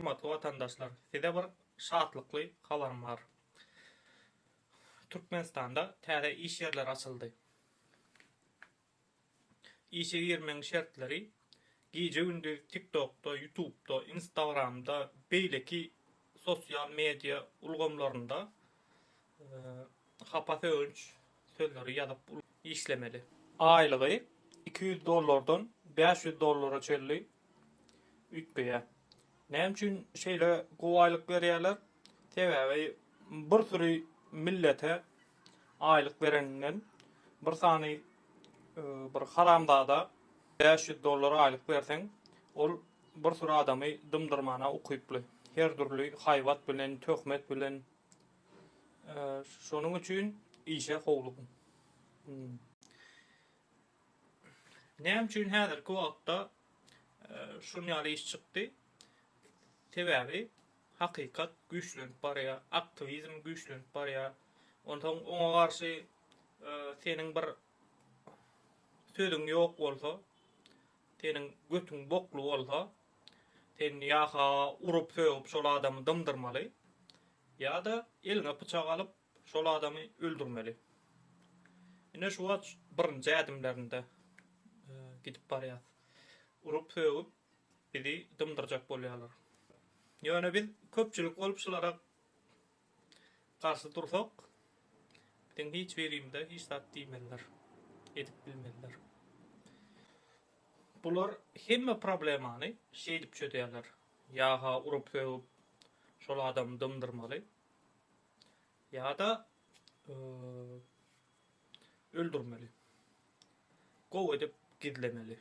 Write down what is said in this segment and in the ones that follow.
Hormatly watandaşlar, size bir şatlykly habarym bar. Türkmenistanda täze iş ýerleri açyldy. Işe girmegiň şertleri gije-gündiz TikTokda, Ýutubda, Instagramda, beýleki sosial media ulgamlarynda Hapa sögünç sözleri ýazyp işlemeli. Aýlygy iki ýüz dollardan bäş ýüz dollara çenli üýtgeýär. Näme üçin şeýle gowy aýlyk berýärler? Sebäbi bir süri millete aýlyk bereninden bir sany bir haramzada bäş ýüz dollar aýlyk berseň ol bir süri adamy dymdyrmana ukyply. Her dürli haýbat bilen, töhmet bilen Şonuň üçin işe howlugyn. Näme üçin häzirki wagtda şun ýaly iş çykdy? Sebäbi hakykat güýçlenip barýar, aktiwizm güýçlenip barýar. Onsoň oňa garşy seniň bir sözüň ýok bolsa, seniň götüň bokly bolsa, sen ýa-ha urup-sögüp şol adamy dymdyrmaly, Ýa-da eliňe pyçak alyp, şol adamy öldürmeli. Ine şu wagt birinji ädimlerinde gidip barýas. Urup-sögüp bizi dymdyrjak bolýarlar. Ýöne biz köpçülik bolup şulara garşy dursak, biziň hiç birimize hiç zat diýmezler, edip bilmezler. Bular hemme problemany şeýdip çözýärler, ýa-ha urup-sögüp, şol adamy dymdyrmaly ýa-da öldürmeli. Gowy edip gizlemeli.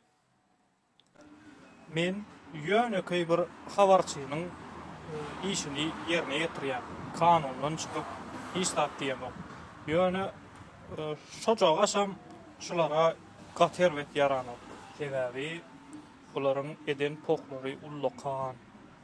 Men ýönekeý bir habarçynyň işini ýerine ýetirýän. Kanundan çykyp hiç zat diýemok. Ýöne şojagaşam şulara gaty erbet ýaranok. Sebäbi bularyň eden pohlary ullakan.